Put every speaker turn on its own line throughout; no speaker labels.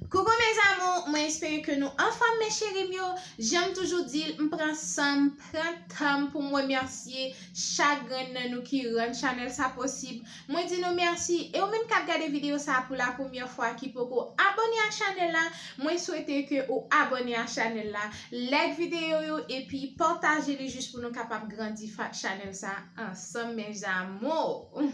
Coucou mes amours mwen espere ke nou anfòm mes cherim yo, janm toujou dil m pran sanm pran tanm poum remèsye chak grenn nan nou ki rann chanèl sa posib, mwen di nou mèsi e ou menm kap gade video sa pou la premyè fwa ki poko abòne a chanèl la mwen swete ke ou abòne a chanèl la like video yo epi pataje li jis pou nou kapab grandi fat chanèl sa ansanm mes amours.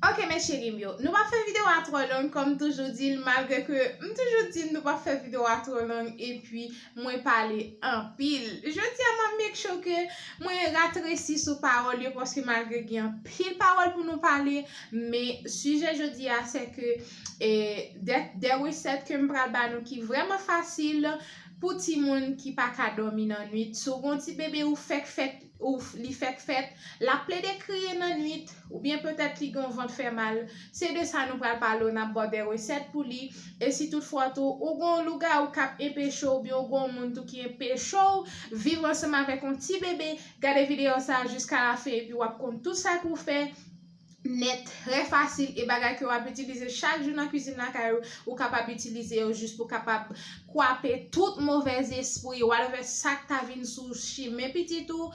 Ok men cheri m yo, nou pa fè video a tro long kom toujou di l malgre ke m toujou di nou pa fè video a tro long epi mwen pale anpil. Jodi a m ap make sure ke mwen ratresi sou pawol yo paske malgre gen anpil pawol pou nou pale men sijè jodi a se ke de reset ke m pral ba nou ki vreman fasil. Pou timoun ki pa ka dòmi nan nwit, si w gen yon ti bebe ou fèk fèt, ou li fèk fèt, l ap plede kriye nan nwit, oubyen petèt li gen yon vant fè mal, se de sa nou pral pale w, n ap ba w de resèt pou li, e si tout fwa tou ou gen yon lougawou k ap enpeche w oubyen ou gen yon moun tou ki enpeche w viv ansanm avèk yon ti bebe, gade videyo sa a jiskalafen epi w ap konn tout sa pou w fè. nèt, trè fasil e bagay ke wap itilize chak jou nan kwizin lakay ou, ou kapab itilize yo jis pou kapab kwape tout movè zespri, whatever sak ta vin sou chimen pitit ou,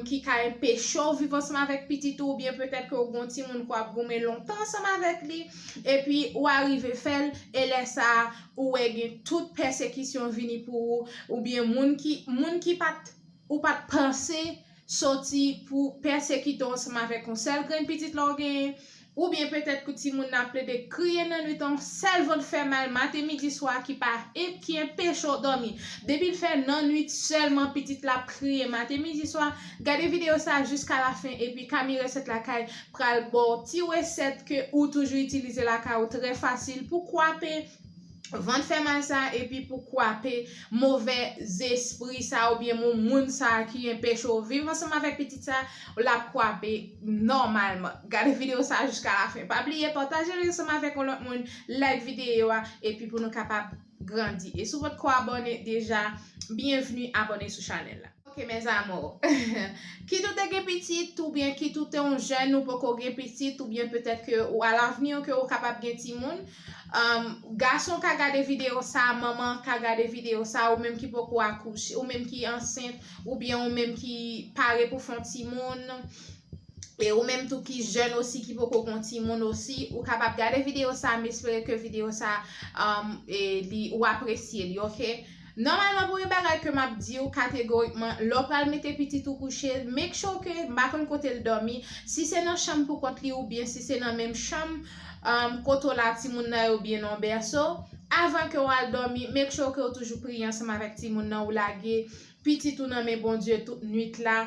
ki ka enpeche w viv ansanm avèk pitit ou, oubyen petèt ke ou gon timoun ke wap goumen lontan ansanm avèk li, epi ou arive fèl, e lè sa ou wè gen tout pèsekisyon vini pou ou, oubyen moun ki, moun ki pat, ou pat panse. soti pou pèsekite w ansanm avèk yon sèl grenn pitit la w genyen, oubyen petèt pou timoun nan ap plede kriye nan nwit lan, sèl vant fè mal maten midi swa ki pa ki enpeche w dòmi. Depi l fè nan nwit sèlman pitit la ap kriye maten midi swa, gade videyo sa jiska lafen epi Kami Resèt Lakay pral ba w ti resèt ke ou toujou itilize lakay ou trè fasil pou kwape vant fè mal sa epi pou kwape move zespri sa oubyen mou moun sa ki enpeche w viv ansanm avèk pitit sa l ap kwape nòmalman gade videyo sa jiska lafen pa bliye pataje l ansanm avèk yon lòt moun like videyo a epi pou nou kapab grandi e si w potko abòne deja byenvni abòne sou chanèl la. Ok mes amours. Kit ou te gen pitit ou byen kit ou te yon jèn ou poko gen pitit ou byen petèt ke ou a lavni ou ke ou kapab gen timoun, gason ka gade video sa, manman ka gade video sa, ou menm ki poko akouche, ou menm ki ansent, ou byen ou menm ki pare pou fon timoun, e ou menm tou ki jèn osi ki poko gon timoun osi, ou kapab gade video sa, m espere ke video sa ou apresye li ok. Nòmalman pou yon bagay ke map diw kategorikman lè w pral mete pitit ou kouche make sure ke m pa konn kote l dòmi si se nan chanm pou kont li oubyen si se nan menm chanm kote w la timoun nan ye oubyen nan yon bèso avan ke w al dòmi make sure ke w toujou priye ansanm avèk timoun nan ou lage pitit ou nan men Bondye tout nwit la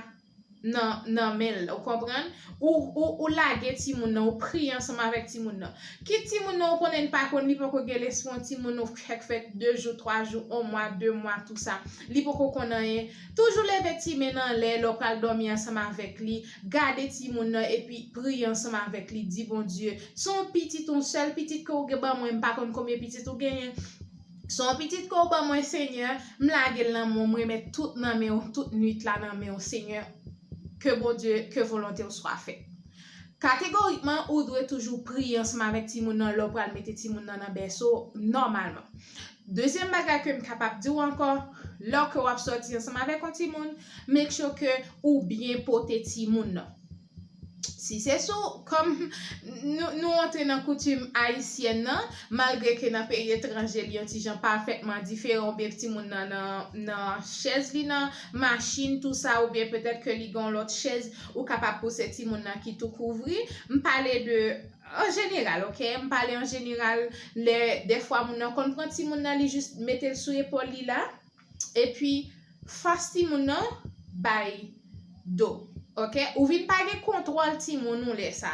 nan nan men l ou konprann ou ou ou lage timoun nan ou priye ansanm avèk timoun nan kit timoun nan ou konnen li pa konn li poko gen lespri yon timoun ou fèk fèt 2 jou 3 jou 1 mwa 2 mwa tou sa li poko konn anyen toujou leve ti men n anlè lè w pral dòmi ansanm avèk li gade timoun nan epi priye ansanm avèk li di Bondye son pitit yon sèl pitit ke ou gen ban mwen m pa konn konbyen pitit ou genyen Son pitit ke w ban mwen senyè, m lage l nan men w, m remèt tout nan men w, tout nwit la nan men w senyè, ke Bondye, ke volonte w swa fèt. Kategorikman ou dwe toujou priye ansanm avèk timoun nan lè w pral mete timoun nan nan bèso nòmalman. Dezyèm bagay ke m kapab di w ankò, lè ke w ap sòti ansanm avèk yon timoun, make sure ke ou byen pote timoun nan. Si se sou kòm nou antre nan koutim ayisyèn nan, malgre ke nan peyi etranje li yon ti jan pafètman diferan ou byen ti moun nan nan chèz li nan machin tou sa ou byen petèt ke li gen yon lòt chèz ou kapab pouse ti moun nan ki tou kouvri. M pale de an jeneral ok, m pale an jeneral lè dèfwa moun nan konn pran ti moun nan li jis mete l sou epòl li la. epi fas timoun nan bay do ok ou vin pa gen kontwòl timoun ou lè sa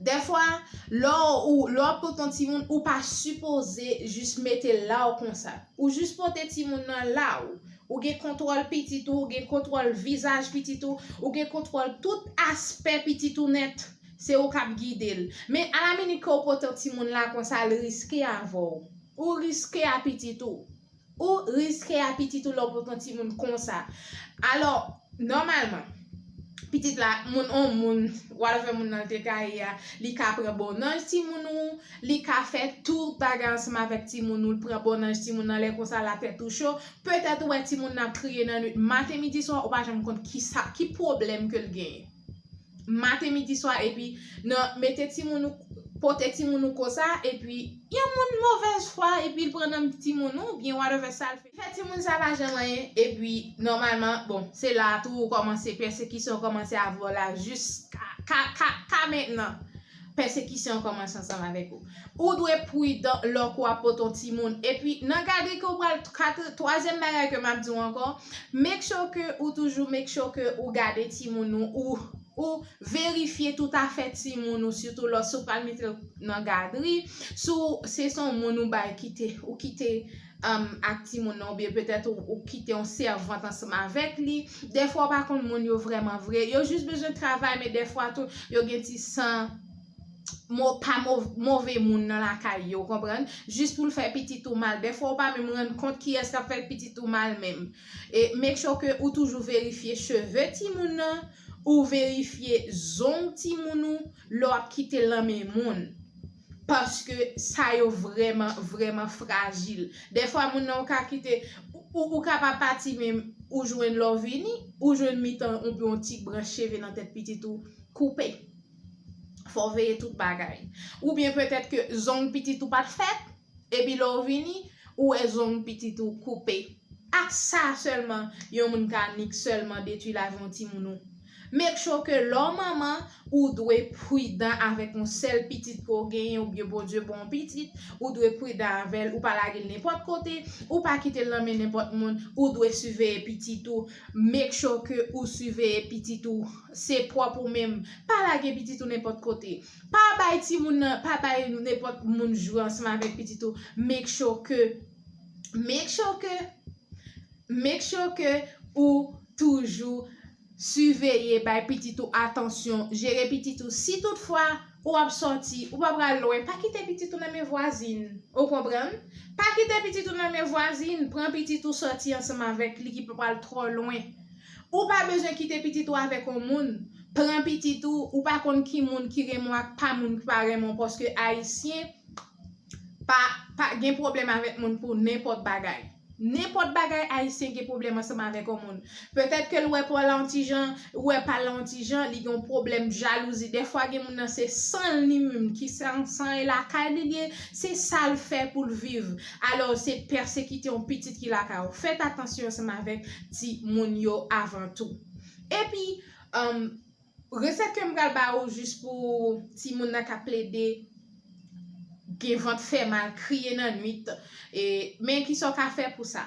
dèfwa lò ou lò ap pot yon timoun ou pa sipoze jis metel la ou konsa ou jis pote timoun nan la ou ou gen kontwòl pitit ou ou gen kontwòl vizaj pitit ou ou gen kontwòl tout aspè pitit ou nèt se ou kap gidel men a la minit ke ou pote yon timoun la konsa li riske avèw. Ou riske a pitit ou. Ou riske a pitit ou lè w poko timoun konsa. Alò, nòmalman, pitit la, moun on moun, w al wè moun nan l te ka ye a, li ka pran bon nanj timoun ou, li ka fè tout bagay ansanm avèk timoun ou, l pran bon nanj timoun nan, lè konsa la tèt ou cho. Petèt ou wè timoun nan ap kriye nan nuit, maten, midi, swa, ou pa janm konn kisa, ki pwoblèm ke l genyen. maten midi swa epi nan mete timoun ou pote timoun ou konsa epi yon moun movèz fwa epi l pran nanm timoun ou oubyen whatever sa l fè timoun sa pa janm anyen epi nòmalman bon se la tou ou kòmanse pèsekisyon kòmanse avè w la jiska ka ka ka mentnan. Pèsekisyon an kòmanse ansanm avèk ou. Ou dwe pridan lò ke w ap pote yon timoun. Epi, nan gadri ke w pral, katre, twazyèm bagay ke m ap di w ankò, make sure ke ou toujou make sure ke ou gade timoun ou, ou, ou verifye tout afè timoun ou, sitou lò, si w pral mete l nan gadri, si w, se se yon moun ou bay kite, ou kite. ak timoun nan oubyen petèt ou kite yon sèvant ansanm avèk li, dèfwa ou pa konn moun yo vrèman vre, yo jis bezwen travay men dèfwa tou yo gen ti san pa move moun nan lakay yo, ou konprann, jis pou l fè pitit ou mal, dèfwa ou pa menm rann kont kiyès k ap fè pitit ou mal menm. E make sure ke ou toujou verifye cheve timoun nan, ou verifye zong timoun ou lè w ap kite l nan men moun. Paske sa yo vrèman, vrèman frajil. Dèfwa moun nan ou ka kite, ou ka pa pati men ou jwenn lè w vini, ou jwenn mitan oubyen yon ti branch cheve nan tèt pitit ou koupe. Fò w veye tout bagay. Oubyen petèt ke zong pitit ou pa t fèt, epi lè w vini, ou wè zong pitit ou koupe. Ak sa sèlman yon moun ka nik sèlman detwi lavi yon timoun ou. Make sure ke lè w manman, ou dwe pridan avèk yon sèl pitit ke w genyen oubyen Bondye ban w pitit, ou dwe pridan avè l, ou pa lage l nenpòt kote, ou pa kite l nan men nenpòt moun, ou dwe siveye pitit ou, make sure ke ou siveye pitit ou, se pwòp ou menm, pa lage pitit ou nenpòt kote, pa bay timoun nan, pa bay nenpòt moun jwe ansanm avèk pitit ou, make sure ke, make sure ke, Make sure ke ou toujou siveye, bay pitit ou atansyon, jere pitit ou. Si tout fwa ou ap sòti, ou pa pral lwen, pa kite pitit ou nan men vwazin. Ou konprann? Pa kite pitit ou nan men vwazin, pran pitit ou sòti ansanm avèk li ki pa pral twò lwen. Ou pa bezwen kite pitit ou avèk yon moun, pran pitit ou, ou pa konn ki moun ki renmen w ak pa moun ki pa renmen w paske ayisyen pa gen pwoblèm avèk moun pou nenpòt bagay. Nenpòt bagay Ayisyen gen pwoblèm ansanm avèk yon moun. Petèt ke l wè pa w la yon ti jan, ou wè pa l la yon ti jan, li gen yon pwoblèm jalouzi. Dèfwa gen moun nan se san l ni minm ki san san e lakay li li ye, se sa l fè pou l viv. Alò, se pèsekite yon pitit ki lakay ou. Fèt atansyon ansanm avèk ti moun yo avan tou. Epi. Resèt kem pral ba ou jis pou timoun nan ka plede gen vant fè mal kriye nan nwit e men kisa ou ka fè pou sa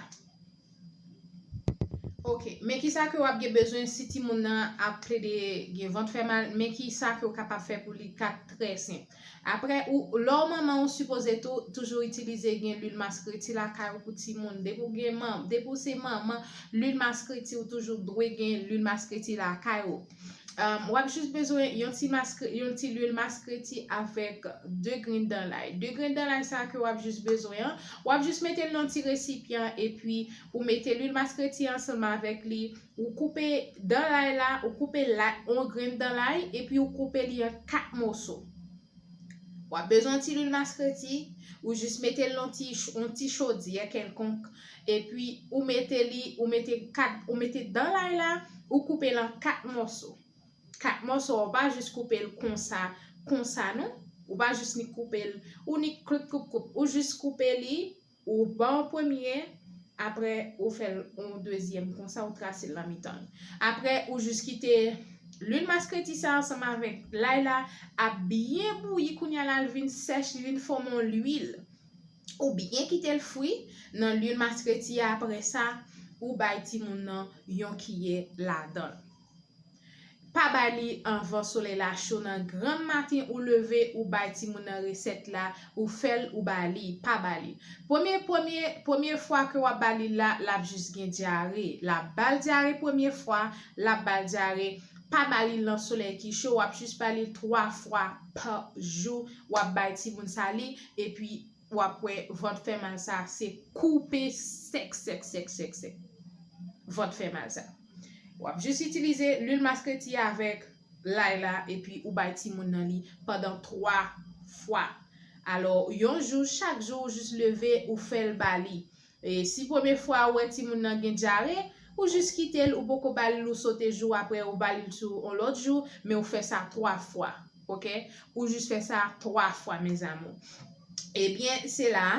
ok men kisa ke wap gen bezwen si timoun nan ap plede gen vant fè mal men kisa ke ou kapab fè pou li ka trè senp. Aprè ou lè ou manman ou sipoze tou toujou itilize gen lwil maskreti lakay ou pou timoun depi ou gen manm depi ou se manman lwil maskreti ou toujou dwe gen lwil maskreti lakay ou wap jis bezwen yon ti maskre yon ti lwil maskreti avèk 2 grenn dan lay 2 grenn dan lay sa ke wap jis bezwen an wap jis metel nan ti resipyan epi ou mete lwil maskreti an sèlman avèk li Ou koupe dan lay la, ou koupe lay, yon grenn dan lay, epi ou koupe li an 4 moso. Wap bezwen yon ti lwil maskreti, ou jis mete l nan ti, yon ti chodyè kèlkonk, epi ou mete li, ou mete 4, ou mete dan lay la, ou koupe l an 4 moso. 4 moso a ou pa jis koupe l konsa, konsa non, ou pa jis ni koupe l, ou ni kloup kloup kloup, ou jis koupe li. Ou ban yon premye, apre ou fè l yon dezyèm konsa ou trase l nan mitan l. Apre ou jis kite lwil maskreti sa ansanm avèk lay la ap byen bouyi kounye a la li vin sèch li vin fòme yon lwil. Ou byen kite l fri nan lwil maskreti a apre sa ou bay timoun nan yon kiyè ladan l. Pa bay li anvan solèy la cho nan grann maten ou leve ou bay timoun nan resèt la ou fèl ou ba li pa ba li premye premye premye fwa ke wap ba li la lap jis gen dyare la bal dyare premye fwa lap bal dyare pa ba li lan solèy ki cho wap jis ba li 3 fwa pa jou wap bay timoun sa li epi Wap wè vant fè mal sa se koupe sèk sèk sèk sèk sèk vant fè mal sa. Wap jis itilize lwil maskreti a avèk lay la epi ou bay timoun nan li pandan 3 fwa. Alò yon jou chak jou ou jis leve ou fèl ba li. E si premye fwa ou wè timoun nan gen dyare, ou jis kite l, ou poko ba li l ou sote jou aprè ou ba li l tou on lòt jou, men ou fè sa 3 fwa ok, ou jis fè sa 3 fwa mes amours. Ebyen se la a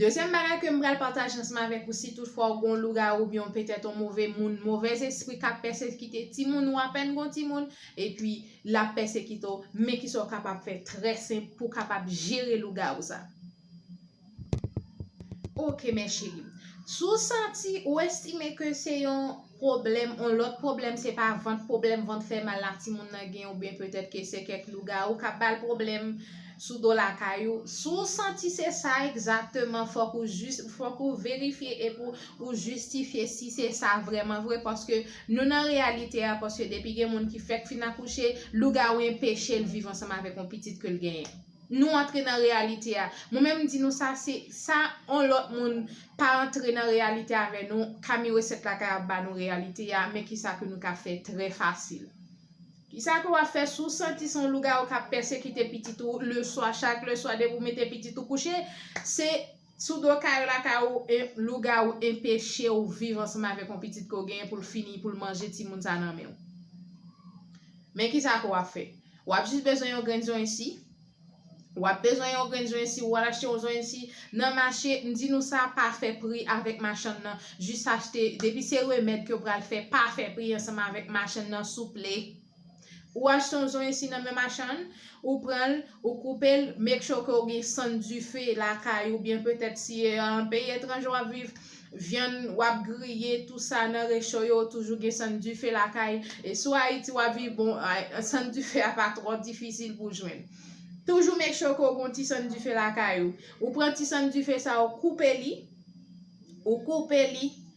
dezyèm bagay ke m pral pataje ansanm avèk ou si tout fwa ou gen yon lougawou oubyen yon petèt yon move moun movèz espri kap pèsekite timoun ou apèn gen yon timoun epi lap pèsekite w men kisa ou kapab fè trè senp pou w kapab jere lougawou sa. Ok men cheri. Si w santi ou estime ke se yon pwoblèm, yon lòt pwoblèm, se pa vant, pwoblèm vant fè mal la timoun nan gen ou byen petèt ke se kèk lougawou k ap ba l pwoblèm sou do lakay ou. Si w santi se sa egzakteman, fòk ou jis, fòk ou verifye epi ou jistifye si se sa vrèman vre paske nou nan reyalite a paske depi gen moun ki fèk fin akouche, lougawou enpeche l viv ansanm avèk yon pitit ke l genyen. nou antre nan reyalite a. Mwen menm m di nou sa se sa on lòt moun pa antre nan reyalite avè nou, Kami Resèt Lakay ap ba nou reyalite a, men kisa ke nou ka fè trè fasil. Kisa ke w ap fè si w santi se yon lougawou k ap pèsekite pitit ou leswa, chak leswa depi w mete pitit ou kouche, se. Sou do kay ou lakay ou en lougawou enpeche ou viv ansanm avèk on pitit ke ou genyen pou l fini pou l manje timoun sa nan men ou. Men kisa ke w ap fè. W ap jis bezwen yon grenn zonyen si. W ap bezwen yon grenn zonyen si ou al achte yon zonyen si nan mache, m di nou sa pa fè pri avèk machann nan, jis achte, depi se remèd ke w pral fè pa fè pri ansanm avèk machann nan souple. Ou achte yon zonyen si nan men machann, ou pran l, ou koupe l, make sure ke ou gen sann dife lakay ou byen petèt si e an peyi etranje wap viv, vyann wap griye tou sa nan recho yo ou toujou gen sann dife lakay, e si w Ayiti wap viv bon sann dife a pa twò difisil pou jwenn. Toujou make sure ke ou gen yon ti sann dife lakay ou. Ou pran ti sann dife sa ou koupe li, ou koupe li,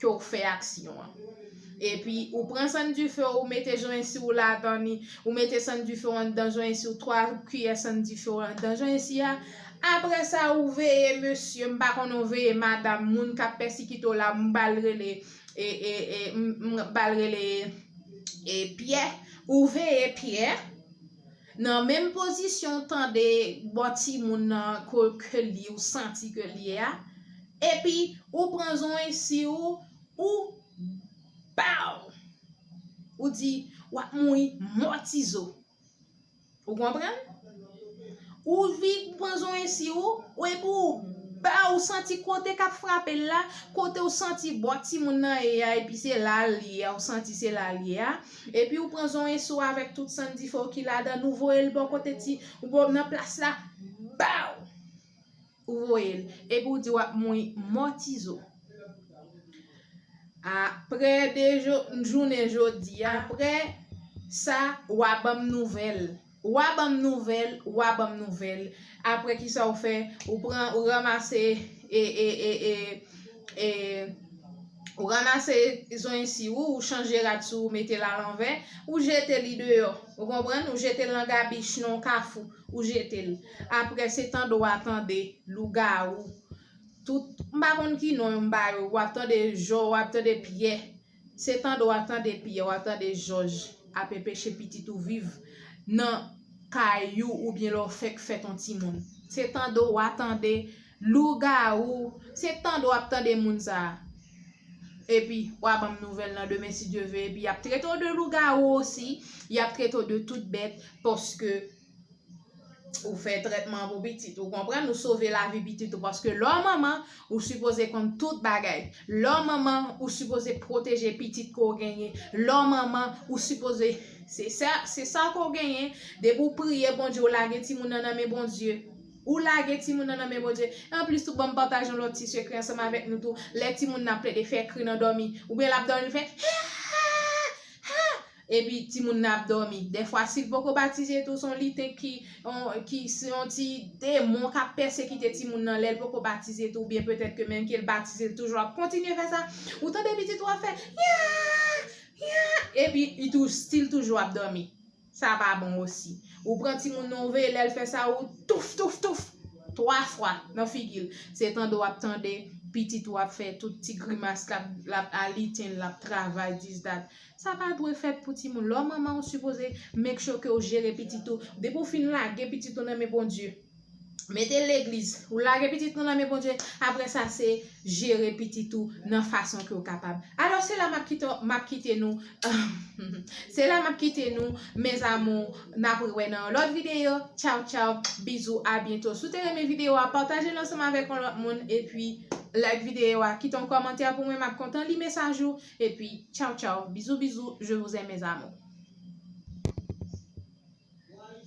ke w fè aksyon an. Epi, ou pran sann dife w, ou mete joensi w ladan li, ou mete sann dife w anndan joensi w, 3 kiyè sann dife w anndan joensi a. Apre sa, ou veye mesye, m pa konnen ou veye madam, moun k ap pèsikite w la, m ba l rele, e, e, e, m ba l rele, e, Pyè. Ou veye Pyè. Nan menm pozisyon w tande bò timoun nan ke l ye ou santi ke l ye a, epi ou pran zonwi si ou, ou baww! Ou di, w ap mouri mò ti zo. Ou konprann? Ou vi pran zonwi si ou, ou epi ou baww! Ou santi kote k ap frape l la, kote ou santi bò timoun nan ye a epi se la l ye a, ou santi se la l ye a, Epi ou pran zonyen si w avèk tout san dife w ki ladan l ou voye l bò kote ti nan plas la baww ou voye l epi w di w ap mouy mò ti zo aprè de jounen jodi aprè sa w a ban m nouvèl. Wa banm nouvel wa banm nouvel aprè kisa ou fè ou pran ou ramase e e e e e ou ramase zonyen si ou ou chanje rad si ou mete la lanvè ou jete li deyò ou konprann ou jete lan gabich non kafou ou jete l aprè se tande wa tande lougarou tout m pa konn ki non yo m ba yo wap tande jò wap tande pyè. Se tande wa tande piyè wa tande jòj ap enpeche pitit ou viv nan Kay ou oubyen lè w fèk fèt on ti moun se tande wa tande lougawou se tande wap tande moun sa epi wa banm nouvèl nan demen si Dye ve epi yap trete w de lougawou osi yap trete w de tout bèt paske Ou fè trètman pou pitit ou konprann ou sove lavi pitit ou paske lò manman ou sipoze kon tout bagay lò manman ou sipoze pwoteje pitit ko genyen lò manman ou sipoze se sa se sa ko genyen depi ou priye Bondye ou lage timoun nan nan men Bondye ou lage timoun nan nan men Bondye en plus tout bon partage yon lòt ti sekre ansanm avèk nou tou lè timoun nan plede fè kri nan dòmi ou byen lap dòmi fè Epi timoun nan ap dòmi. Dèfwa si l poko batize tou se yon lite ki ki se yon ti demon k ap pèsekite timoun nan lè l poko batize tou oubyen petèt ke menm ke l batize l toujou ap kontinye fè sa. Ou tande pitit ou ap fè Yaaaa Yaaaa epi li tou stil toujou ap dòmi. Sa pa bon osi. Ou pran timoun nan ou veye lè l fè sa ou touf touf touf twa fwa nan figi l. Se tande w ap tande pitit ou ap fè tout ti grimas l ap l ap aliten l ap travay dis dat. Sa pa dwe fèt pou timoun. Lè w manman ou sipoze make sure ke w jere pitit ou. Depi ou fin lage pitit ou nan men Bondye. Mete l legliz. Ou lage pitit ou nan men Bondye. Apre sa se jere pitit ou nan fason ke w kapab. Alò se la m ap kite nou. Se la m ap kite nou mes amours. N ap re wè nan yon lòt videyo. Tchaw tchaw. Bizou a byento. Si w te renmen videyo a pataje l ansanm avèk yon lòt moun. E pi like videyo a. Kite yon kòmantè pou mwen. M ap kontan li mesaj ou. Epi tchaw tchaw bizou bizou je vous aime mes amours.